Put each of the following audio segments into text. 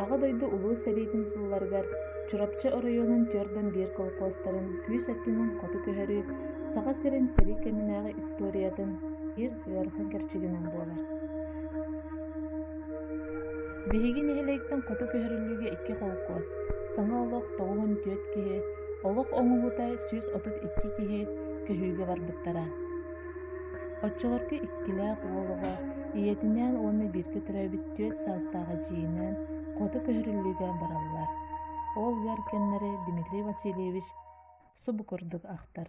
Аҕа дойду Улуу сэриитин сылларыгар Чурапчы оройуонун түөрдэн биир колхозтарын күүс өттүнэн хоту көһөрүү Саха сирин сэрии кэминээҕи историятын биир ыарахан кэрчигинэн буолар. Биһиги нэһилиэктэн хоту көһөрүллүүгэ икки холкуос, саҥа олох тоҕуһун түөрт киһи, олох оҥоһуута сүүс отут икки киһи көһүүгэ барбыттара. Оччолорго иккилээх уол оҕо, ийэтинээн уонна бииргэ төрөөбүт түөрт саастаах эдьиийинээн хоту көһөрүллүүгэ бараллар. Ол ыар кэмнэри Дмитрий Васильевич субу курдук ахтар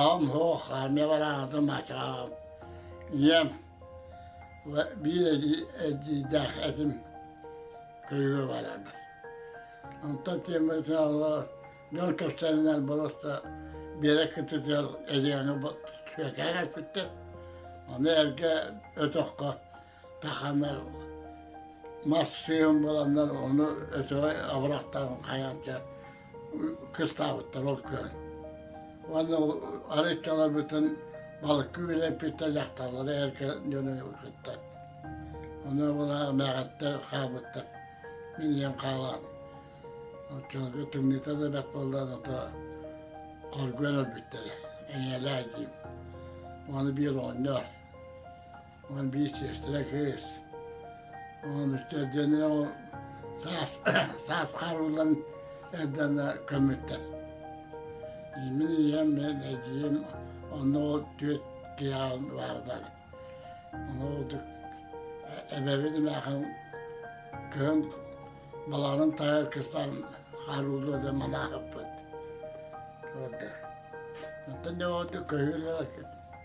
аҕам суох армия барааҕытын баччаҕаҕым ийэм биир эдьиийдээх этим көйгө баранар онтон тиэмэтин аллар дьон кэпсээнинэн боруоста биэрэ кытытыгар эдьигээҥҥэ сүөкээ кэлбиттэр ону эргэ өтөххө таханар мас сыйын буланнар ону өтөҕөй абырахтарын хайан дьэ кыстаабыттар ол күөн уонна арыччаларбытын балыкка үрэппиттэр дьахталлары эргэ дьону кытта ону булаар мээҕэттэр хаалбыттар мин ийэм хаалаан оччолорго тымныыта да бэрт буоллар ото хоргуйан өлбүттэрэ эйэлээ диим уону биир оонньоор Уон биир чиэстэрэ кыыс. Уон үттэр диэнэ ол саас саас харуулан эрдэнэ көмүттэр. Мин ийэм мен эдьиим онно ол түөрт киһиэҕин баардар. Ону ордук эбэбит эмээхин кыһын балаҕанын таһыгар кыстан харуулуо да манаахыппыт. Оттон не ордук көһүүрэ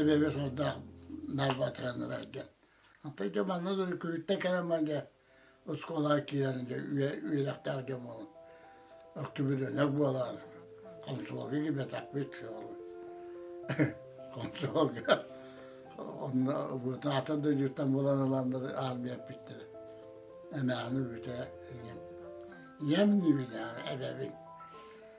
эбэбэ сордоох Нарбатраннара дьон. Онтон дьэ манна Күрүттэ кэлэн дьэ оскуолаҕа киирэн дьэ үөрэхтээх дьон буолан октябренок буолаар хонсуолга кибэтахпыт хонсуолга онно бутаатын дойдуттан булан ыланнар армия эппиттэрэ эмээҕини бүтэ ийэм ийэм диибин эбэбин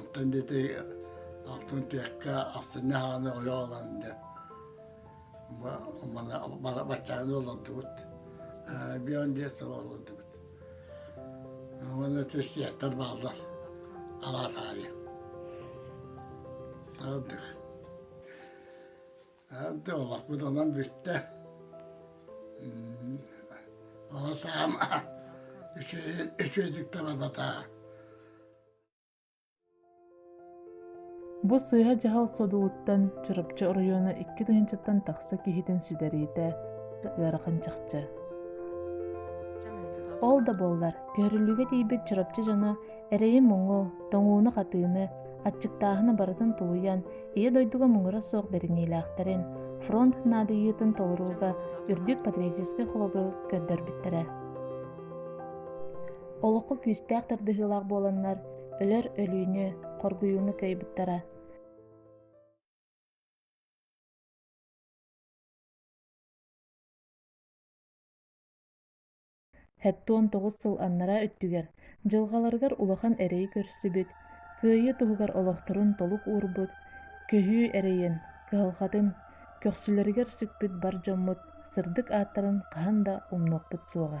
Оттон ити алтын түөккэ астынна хааны олох ылан да баччааны олордубут бион биэс сыл олордубут уонна сиэттэр бааллар алаас аайы Ante олохпут онон бүттэ. Оҕо саам үчүөйүн үчүөйдүк таларбата. Бу сыыһа дьаһал содугуттан Чурапчы оройуона икки тыһыынчаттан тахса киһитин сүдэриитэ ыарахан чахчы. Ол да буоллар, көһөрүлүүгэ тиийбит Чурапчы дьоно Эрэйи-муҥу, тоҥууну-хатыыны, аччыктааһыны барытын тулуйан, Ийэ дойдуга муҥура суох бэриниилээхтэрин, фронт наадыйыытын толорууга үрдүк патриотическай холобуру көрдөрбүттэрэ. Олоххо күүстээх тардыһыылаах буоланнар, өлөр өлүүнү, хоргуйууну кыайбыттара. Сэттуон тоҕус сыл аннараа өттүгэр дьылҕаларыгар улахан эрэйи көрсүбүт, кыайыы туһугар олохторун толук уурбут, көһүү эрэйин, кыһалҕатын көхсүлэригэр сүкпүт бар дьоммут сырдык ааттарын хаһан да умнуохпут суоҕа.